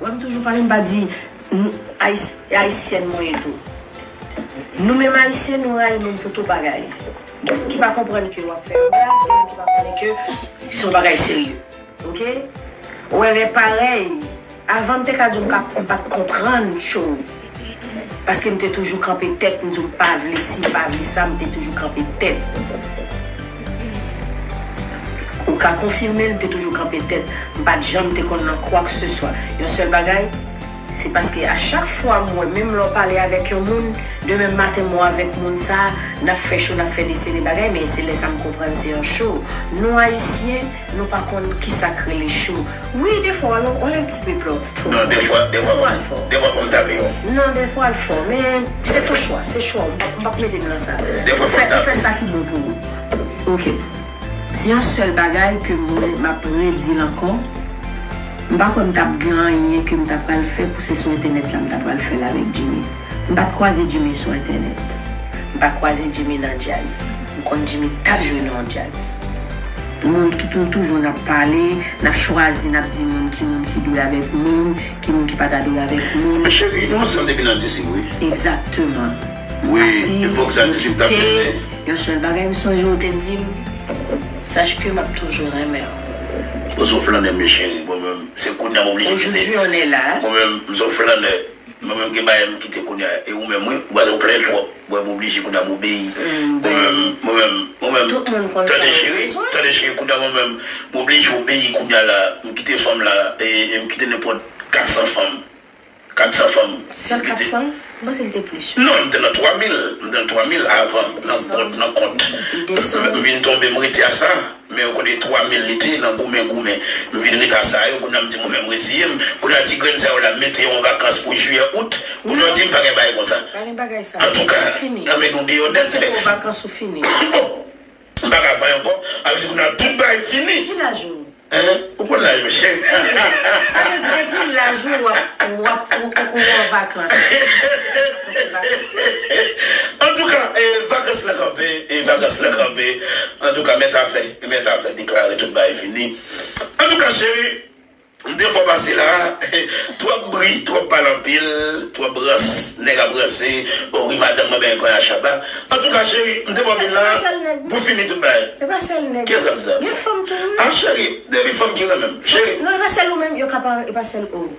Wèm toujou pale mpa di nou ayisyen e ayisyèn mwen ye tou nou menm ayisyen nou rayi moun pou tout bagay gen moun ki pa konprann ke wap fè yon blag gen moun ki pa konnen ke se yon bagay serye ok ou wè lè parèy avan mte ka diw mka mpat konprann tjou. Paske m te toujou kanpe tèt m di w m pa vle si m pa vle sa m te toujou kanpe tèt ou ka konfime l m te toujou kanpe tèt m pa t janm te konn nan kwakseswa yon sèl bagay se paske a chak fwa m wè menm lè w pale avèk yon moun demen maten m wè w avèk moun sa n ap fè cho n ap fè desere bagay men se lè sa m konprann se yon cho nou ayisyen Nou pa konn kisak rele cho. Wi defwa l wal un petit peu plòt two fò. Non defwa wal fò. Defwa fòm table yo. Non defwa l fò men se ton chwa se chwa w m pap mete m nan sa. Ou fè ou fè sa ki bon pou ou. Ok se yon sèl bagay ke mwen map redi l ankò m pa kwè m tap gen anyen ke m ta pral fè pou se sou entènèt la m ta pral fè l avèk Jimmy. M pat kwaze Jimmy sou entènèt. M pa kwaze Jimmy nan djaz. M konn Jimmy tap jwe nan yon djaz. Nou nou toujou nap pale, nap chwazi nap di moun ki moun ki dwe avek moun, ki moun ki pa ta dwe avek moun. Men cheri, nou ansanm depi nan disip wi. Exactement. Wi, epok sa disip tap mennen. Yon sel bagay m sonje ou te dim, Sache que map toujou renmen w. Ou son flannè mes chérie, bon men se kounya m oblije kite. Aujourd'hui on est là. Mwen menm m son flannè. Mwen menm gen bagay m kite kounya e ou menm wi ou pase ou plenn twòp mwen oblije kounya m obeyi mwen menm mwen menm mwen menm tande cheri tande cheri kounya mwen menm m oblije obeyi kounya la m kite fanm la e m kite nenpòt 400 fanm 400 fanm m kite non m te nan 3000 m te nan 3000 avan nan kont m vin tonbe m rete a sa. Men yo kote 3 mil li te nan goumen goumen m vin reta sa yo kounye a m di mwen menm m reziye m kounye a ti grenn sa yo la m mete yo an vakans pou jiyè out kounye a w di m pa gen bagay konsa antouka nan men nou deyò nèt bon m pa ka vanyan ankò a vle di kounye a tout bagay fini hein ou konn laj mwen cheri hahaha. Bèl vakans la. Antouka vakans la kanpe vakans la kanpe antouka men ta fè men ta fè deklare tout bagay fini antouka cheri m te fò pase la twòp bri twòp pale anpil twòp rans nèg ap ranse o wi madanm mwen benyen konnya shabba antouka cheri m te fò vin la pou fini tout bagay e pa sèl nèg ki sa m sa gen fanm tou wi a cheri depi fanm ki renmen m cheri non e pa sèl ou menm yo ka pa e pa sèl ou.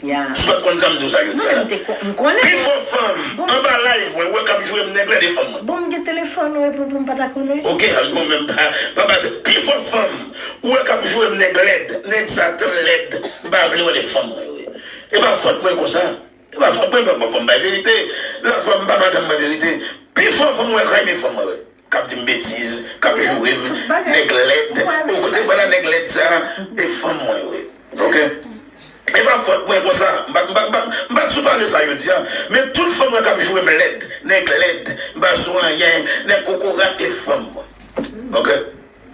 Sou pat konn sa mdousa yo di ala. Pifò fanm anba live mwen wè kap jwem nèg la 2 fanm mwen. Bonm gen telefòn ou epou poum pata konnen. Ok al non menm pa bat pifò fanm ou wè kap jwem nèg lèd nèg sa tèlmn lèd mpa vle wè 2 fanm mwen yo epa fòt mwen konsa epa fòt mwen fòm bay verite la fanm pa madanm mwen verite pifò fanm ou wè kraym 1 fanm mwen wè. Kap dim betiz, kap jourem, nèg lèd, ou kote pala nèg lèd sa, e fanm mwen yo ye ok, e pa fòt mwen konsa, m pa sou pale sa yo di an, men tout fanm mwen kap jourem lèd, nèg lèd, m pa sou anyen, nèg kokorat e fanm mwen ok.